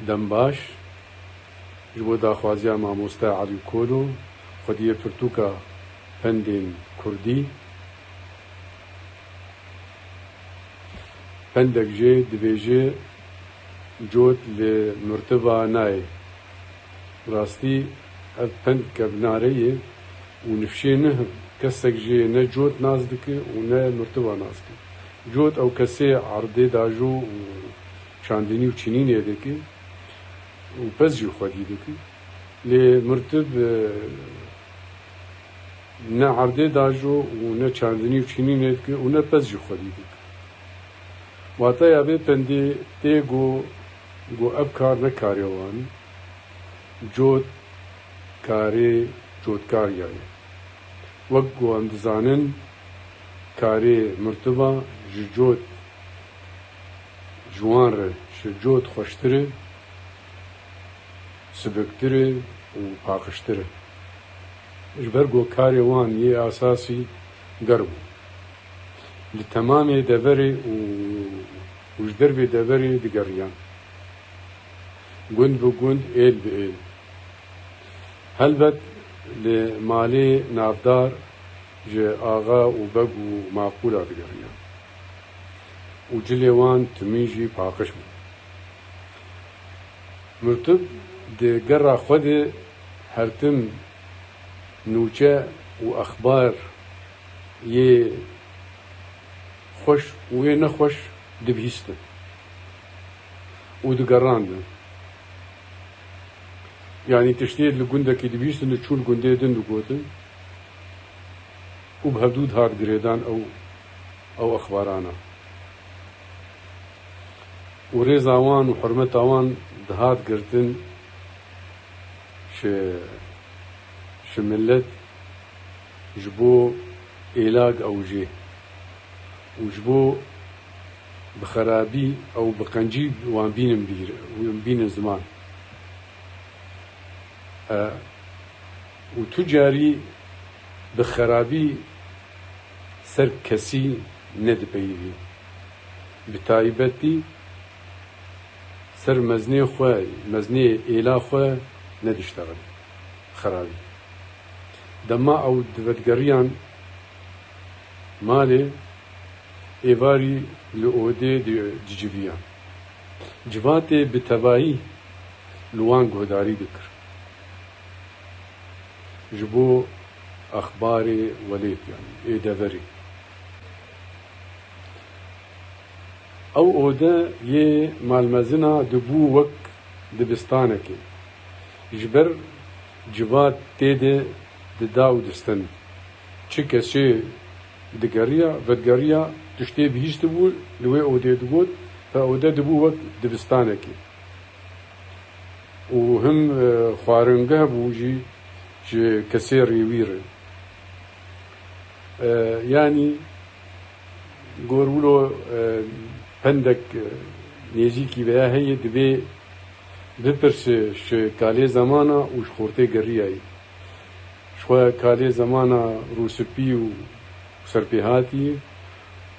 Dembaş, Ji bo daxwaziya mamoste Elî Kolo, xwediyê pirtûka pendên kurdî, pendek jê dibêje cot li mirtiva nayê. Bi rastî ev pend kevnare ye û nifşê niha kesek jê ne cot nas dike û ne mirtiva nas dike. Cot ew kesê erdê dajo û Çandinî û çinînê dike û pez jî xwedî dike. Lê mirtib ne erdê dajo û ne çandinî û çinînê dike û ne pez jî xwedî dike. Wataya vê pendê tê go go ev kar ne karê wan e. Cot karê cotkariya ye. Wek go em dizanin karê mirtiba ji cot. ji wan re ji cot xweştir e, sibiktir e û paqijtir e. Ji ber ku karê wan yê esasî germ bû, li temamê deverê û ji dervê deverê digeriyan, gund bi gund, êl bi êl. Helbet li malê navdar ji axa û beg û maqûla digeriyan. û cilê wan timî jî paqij bû. Mirtub di gera xwe de hertim nûçe û exbar yê xweş û yê nexweş dibihîstin û digerandin. Yanî tiştê li gundekî dibihîstin diçûn gundê din digotin û bi hevdû dihat girêdan ew ew exbaran e û rêza wan û hurmeta wan dihat girtin ji milet, ji bo êlag ew jê û ji bo bi xerabî ew bi qencî wan bînin bîr û bînin ziman e û tu carî bi xerabî Ser kesî nedipeyivî. Bi taybetî ser meznê xwe, meznê êla xwe nediştexin. Xerabî. Dema ew divetgeriyan malê, êvarî li odê dicivîyan. Civatê bi tevahî li wan guhdarî dikir. ji bo exbarê welêt yanî ê deverê. Ew ode yê malmezina dibû wek dibistanekê. Ji ber civat tê de dida û distin. Çi kesê digeriya, vedigeriya tiştê bihîştibû li wê odê digot, Ev ode dibû wek dibistanekê. û him xwaringeh bû jî ji kesê rê wî re. Yanî gor wilo pendek nêzîkî veya heye dibê bipirsê ji kalê zemana û ji xortê geriyayî. Ji xwe kalê zemana rûspî û serpêhatî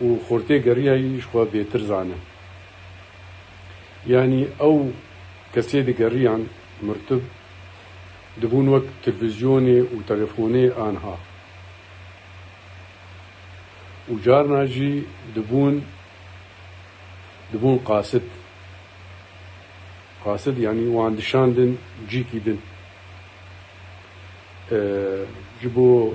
û xortê geriyayî ji xwe bêtir zane. Yanî ew kesê digeriyan mirtib dibûn wek tilvizyonê û telefonê anha û carna jî dibûn dibûn qasit. Qasit yanî wan dişandin cîkî din ji bo.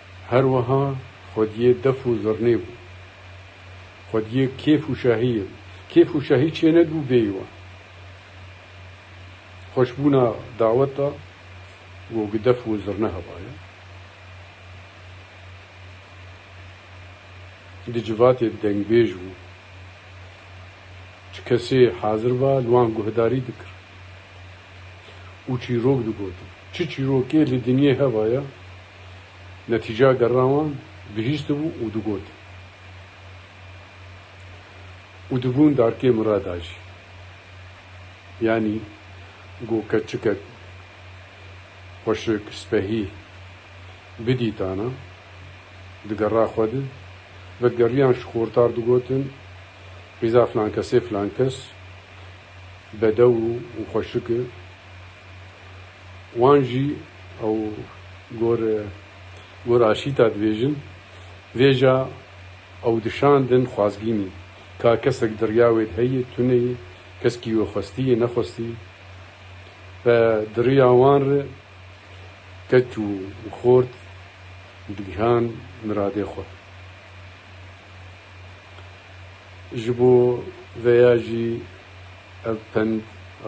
Her wiha xwediyê def û zirnê bû. Xwediyê kêf û şahiyê bû. Kêf û şahî çê nedibû bêyî wan. Xweşbûna dawet da û bi def û zirne hevaye. Di civatê dengbêj bû. Çi kesê hazir ba li wan guhdarî dikir û çîrok digotin. Çi çîrokê li dinyê hevaye Netîceya derina wan gihîştibû û digot û dibûn darkê min re da jî. Yanî ku keçikek, xweşik, spehî bidîtana digera xwe di, vekgeriyan ji xortar digotin, Rîza filankesê filankes bedew û xweşik e. Wan jî ew gor gor aşîta dibêjin. Vêja ew dişandin xwazgînî. Ka kesek dirya wê heye, tune ye, keskî wê xwestî ye, nexwestî. Be diriya wan re keç û xort digihan miradê xwe. Ji bo veya jî. Ev pend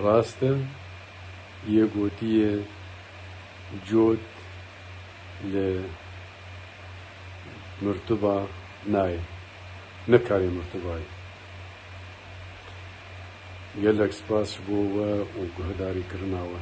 rast e, yê gotiye cot li mirtuba nayê, nikarê mirtubayê. Gelek spas ji bo we û guhedarî kirina we.